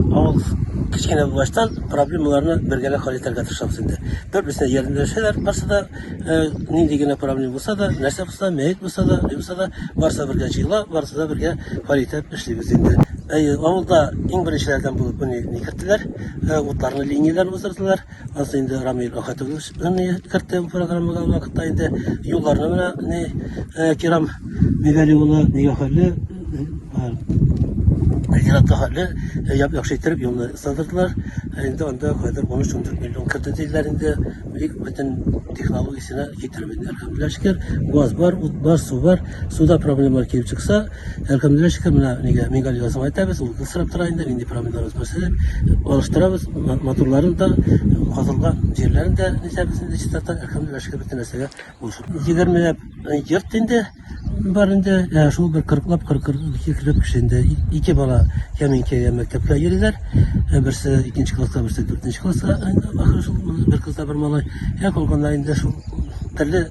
Авыл кечкенә булгаштан проблемаларны бергәләп хәл итәргә тырышабыз инде. Бер-берсенә ярдәмләшәләр, барсы да э, нинди генә проблема булса да, нәрсә булса да, мәет булса да, ни булса да, барсы да бергә җыела, барсы да бергә хәл итеп эшлибез инде. Әйе, авылда иң беренчеләрдән булып, менә ни керттеләр, э, утларны линияләр уздырдылар. Аз инде Рамил Ахатович не кертте бу программага вакытта инде юлларны менә не э, Кирам Мигали улы нигә хәлле Зиратта э, хәлле э, яп яхшы иттереп юлны сындырдылар. Инде анда хәзер 13-14 миллион кертте диләр инде. Бик бөтен технологиясенә китереп инде. Әлхәмдүлилләһ шөкер, газ бар, ут бар, су бар. Суда проблемалар килеп чыкса, Һәркемдешкә менә нигә мигаль язып әйтәбез, ул исрап тора инде, нинди промиллар үсмәсә, алыштырабыз, моторларын да, казылга җирләрен дә нисәбез инде чистартып, һәркемдешкә бөтен нәрсәгә булышып. 20 йорт инде бар инде, ә шул бер 40лап 42 килеп кеше инде. Ике бала кәминкәгә мәктәпкә йөриләр. Берсе икенче класска, берсе дүртенче класска ахры шул, бер кыз да бер малай. Ә калганнар инде шул төрле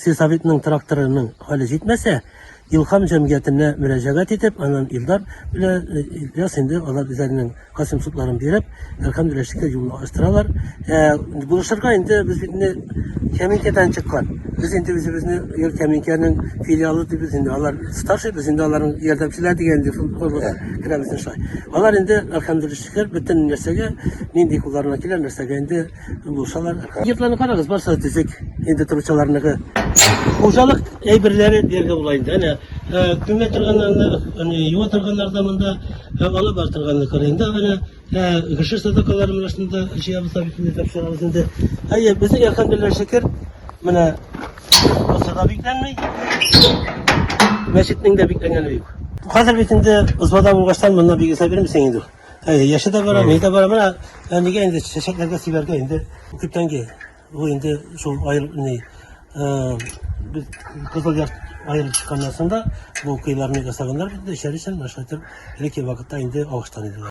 Сельсоветның тракторының хәле җитмәсә, Илһам җәмгыятенә мөрәҗәгать итеп, аннан Илдар белән Ильяс инде алар үзләренең Касыйм судларын биреп, әлхәмдүлилләһ юлны ачтыралар. Ә булышырга инде без бит инде Кәминкәдән чыккан. Без инде үзебезне Ир Кәминкәнең филиалы дибез инде. Алар старший, без инде аларның ярдәмчеләре дигән инде шул орлыгы керәбез инде шулай. Алар инде әлхәмдүлилләһ шөкер бөтен нәрсәгә нинди кулларына килә нәрсәгә инде Булсалар. Йортларны карагыз, барса да төзек. Инде торучыларныкы. Хуҗалык әйберләре дигән була инде. Әнә күмә торганнарны, әнә юа торганнар да монда, алып бар торганны күрә. Инде әнә кеше садакалары менә шунда җыябыз да бит инде тапшырабыз инде. Әйе, безнең әлхәмдулилла шөкер, менә булса да бикләнми. Мәчетнең дә бикләнгәне юк. Хәзер бит инде узмада булгаштан монда бигесә бирмисең инде. Әйе, яше дә бара, мин дә бара. Менә әнигә инде чәчәкләргә сибәргә инде күптәнге бу инде шул айыр ни без кызыл як айырып чыкканнан соң да бу кыйларны ясаганнар бит, эчәр өчен башка итеп элекке вакытта инде агыштан иде.